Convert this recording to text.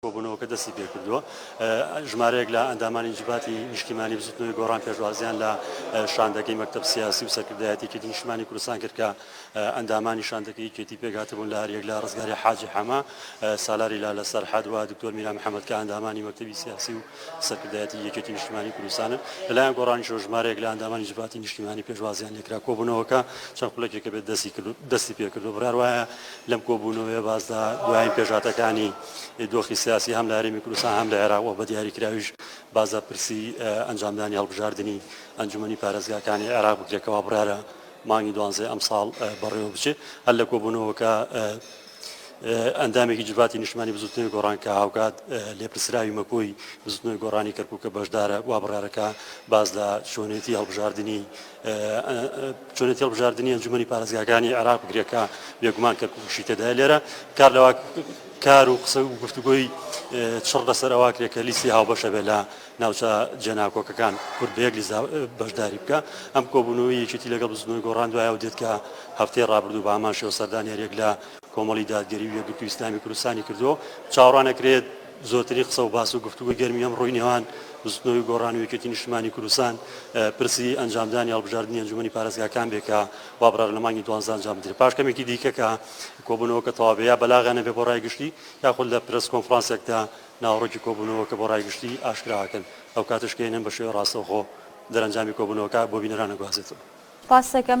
کۆبوونەوەکە دەستی پێکردووە ژمارەیەک لە ئەندامانی جڤاتی نیشتیمانی بزوتنەوەی گۆڕان پێشوازیان لە شاندەکەی مەکتب سیاسی و سەرکردایەتی کردی نیشتمانی کوردستان کرد کە ئەندامانی شاندەکەی کێتی پێکهاتبوون لە هەریەک لە ڕزگاری حاجی حەمە سالاری لا لە سەرحەد و دکتۆر میرا محەممەد کە ئەندامانی مەکتبی سیاسی و سەرکردایەتی یەکێتی نیشتمانی کوردستانن لەلایەن گۆڕانی شۆ ژمارەیەک لە ئەندامانی جڤاتی نیشتیمانی پێشوازیان لێکرا کۆبوونەوەکە چەند خولەکێکە بێت دەستی کرد دەستی پێکردو بڕار وایە لەم کۆبوونەوەیە باس لە دوایین پێشهاتەکانی دۆخی سیاسی هەم لە هەرێمی کوردستان هەم لە عێراق و بە دیاریکراویش باس لە پرسی ئەنجامدانی هەڵبژاردننی ئەنجومی پارێزگاکانی عێراق بکرێتەوە بڕارە مانگی دوانزێ ئەمساڵ بەڕێوە بچێت هەر لە کۆبوونەوەکە ئەندامێکی جڤاتی نیشتمانی بزوتنەوەی گۆڕان کە هاوکات لێپرسراوی مەکۆی بزوتنەوەی گۆڕانی کەرکووکە بەشدارە وا بڕارەکە باز لە شوێنێتی هەڵبژاردننی چۆنێتی هەڵبژاردننی ئەنجومی پارێزگاکانی عراق بگرێکە بێگومان کە کوشی تێدای لێرە کار لەوا کار و قسە و گفتوگۆی چڕ لەسەر ئەوە کرێت کە لیستی هاوبەشە بێ لە ناوچە جێناکۆکەکان کورد بەیەک لیزا بەشداری بکە ئەم کۆبوونەوەی یەکێتی لەگەڵ بزنەوەی گۆڕان دوایە و دێت کە هەفتەی ڕابردوو بە ئامانشەوە سەردانیارێک لە کۆمەڵی دادگەری و یەکگرتو ئیسلامی کوردستانی کردو چاوەڕانەکرێت زۆرترین قسە و باس و گفتوگۆی گەرمی ئەمڕۆی نێوان بزوتنەوەی گۆڕان و یەکێتی نیشتمانی کوردستان پرسی ئەنجامدانی هەڵبژاردنی ئەنجومەنی پارێزگاکان بێ کە وابڕار لە مانگی دوانزدە ئەنجام بدرێت پاش کەمێکی دیکە کە کۆبوونەوەکە تەواو بێ یا بەلاغیان نەبێ بۆ ڕای گشتی یاخود لە پرێس کۆنفرانسێکدا ناوەڕۆکی کۆبوونەوەکە بۆ ڕای گشتی ئاشکرا ئەکەن ئەو کاتەش کە ئێنەم بە شێوەی ڕاستەوخۆ دەرەنجامی کۆبوونەوەکە بۆ بینەران ئەگوازێتەوە. پاس دەکەم.